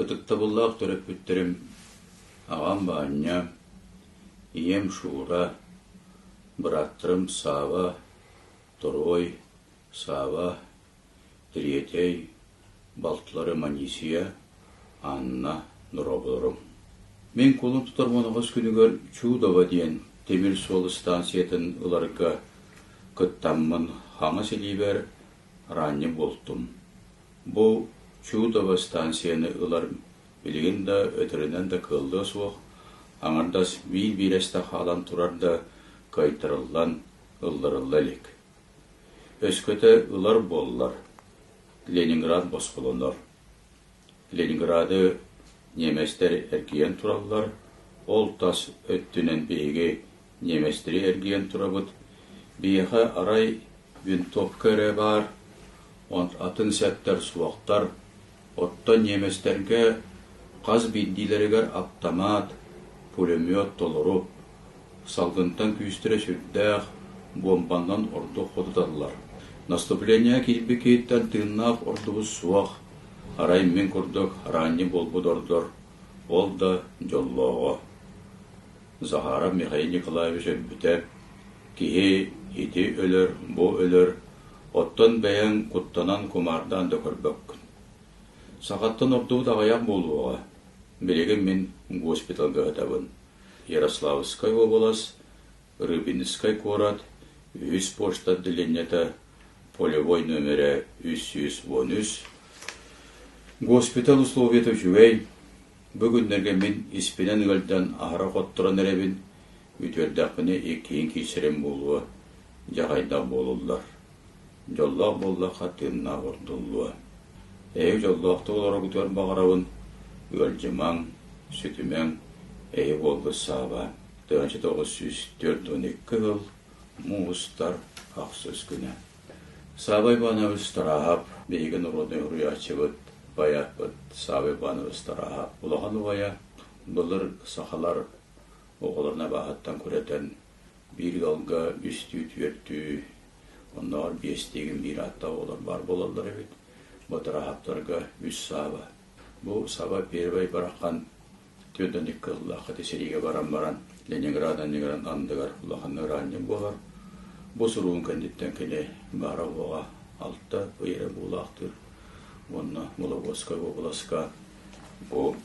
Ытыктабыллаах төрөппүттэрим аҕам Баанньа, ийэм Шура, бырааттарым Саава, Торуой, Саава, Тириэтэй, балтылары Манисия, Анна, дорооболорум. Мин кулун тутар моноҕос күнүгэр Чудово диэн тимир суол ыстаансыйатын ыларга кыттаммын хаҥас илиибэр раанньа буолтум. Бу Чудово ыстаансыйаны ылар билигин да өтөрүнэн да кыаллыа суох, аҥардас биир биирэстэ хаалан турар да кыайтарыллан, ылларылла илик. Өскөтө ылар буоллар, Ленинград босхолонор. Ленинграды ньиэмэстэр эргийэн тураллар, ол тас өттүнэн биһиги ньиэмэстэри эргийэн турабыт. Биһиэхэ арай винтовка эрэ баар, атын сэптэр суохтар, Оттон ньиэмэстэргэ хас биирдиилэригэр аптамаат, пулемет толору, салгынтан күүстэрэ сүрдээх, буомбанан ордук хотуталлар. Наступление киирбит киһиттэн тыыннаах ордубут суох, арай мин курдук араанньы буолбут ордор, ол да дьоллооҕо Захаров Михаил Николаевич өлбүтэ, киһи ити өлөр, бу өлөр, оттон бэйэҥ куттанан кумаардаан да көрбөккүн. Сахаттан ордубут аҕыйах буолуоҕа. Билигин мин госпиталга ыһытабын. Ярославскай уобалас, Рыбинскай куорат, үһүс пошта отделениета, полевой номерэ үс сүүс уон үс, госпиталь условиета үчүгэй, Бу күннэргэ мин испинэн ыалдьан аһара хотторон эрэбин, бүтүөрдэхпинэ иккиһин киирсэрим буолуо, дьаҕайдах буолуллар. Дьоллоох буоллахха тыыннаах урдуллуо. Эһиги дьоллоохтук олороргутугар баҕарабын, ыалдьымаҥ, сүтүмэҥ, эһи буолбут сааба. Тыһыынча тоҕус сүүс төрт уон икки сыл, муустар, ахсыс күнэ. Савва Иванович Тараһап биһиги норуодунай уруйааччыбыт, байааппыт Савва Иванович Тараһап улахан убайа, былыр сахалар оҕолорун абааһыттан күрэтэн биир ыалга үстүү, түөртүү, оннооҕор биэстиигин биир ааттаах оҕолор баар буолаллар эбит. Бу Тараһаптарга үс Савва. Бу Савва Первый Барахан Түөртэн икки ыллаах ити сэриигэ баран баран Ленинград анньыгыран андыгар улаханнык ыраанньык буолар. Бу суругун кэнниттэн кини баара-уоҕа алта ый эрэ буулаахтыыр уонна Вологодскай уобаласка бу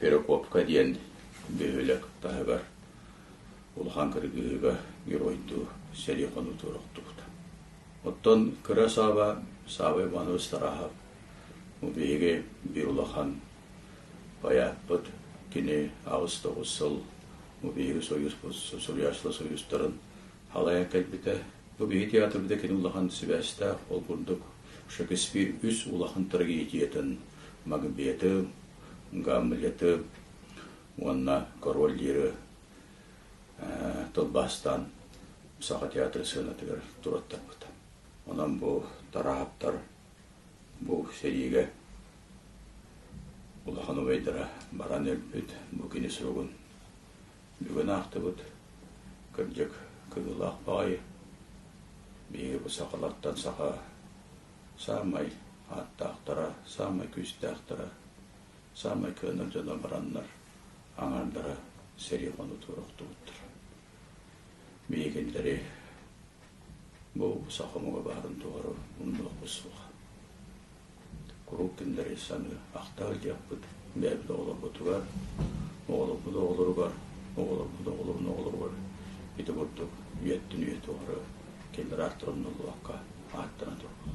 Перекопка диэн бөһүөлэк таһыгар улахан кыргыһыыга геройдуу сэрии-хонуутугар охтубута. Оттон кыра Сааба Саабай Иванович Тарахов бу биһиги биир улахан Байааппыт кини аҕыс-тоҕус сыл бу биһиги Союзпут Суруйааччылар Союзтарын халайа кэлбитэ. Бу биһи театрбыта кини улахан сибээстээх, ол курдук Шекспир үс улахан трагедиятын Магбеты, Гамлеты уонна Король диэри тылбаастаан Саха театры сыанатыгар туруоттарбыта. Онон бу Тараһаптар Бу сэриигэ улахан убайдара баран өлбүт, бу кини суругун бүгүн аахтыбыт. Кырдьык, кыыллаах баҕайы. Биһиги бу сахалартан саха саамай ааттаахтара, саамай күүстээхтэрэ, саамай кыанар дьоно бараннар аҥаардара сэрии хонуутугар охтубуттар. Миигинтэри бу саха омуга баарын тухары умнуохпут суох. Куруук кинилэри саныы ахтар диэхпит бэйэбит оҕолорбутугар, оҕолорбут оҕолоругар, оҕолорбут оҕолорун оҕолоругар ити курдук үйэттэн үйэ тухары кинилэр ааттарын умнуллубакка ааттана турбут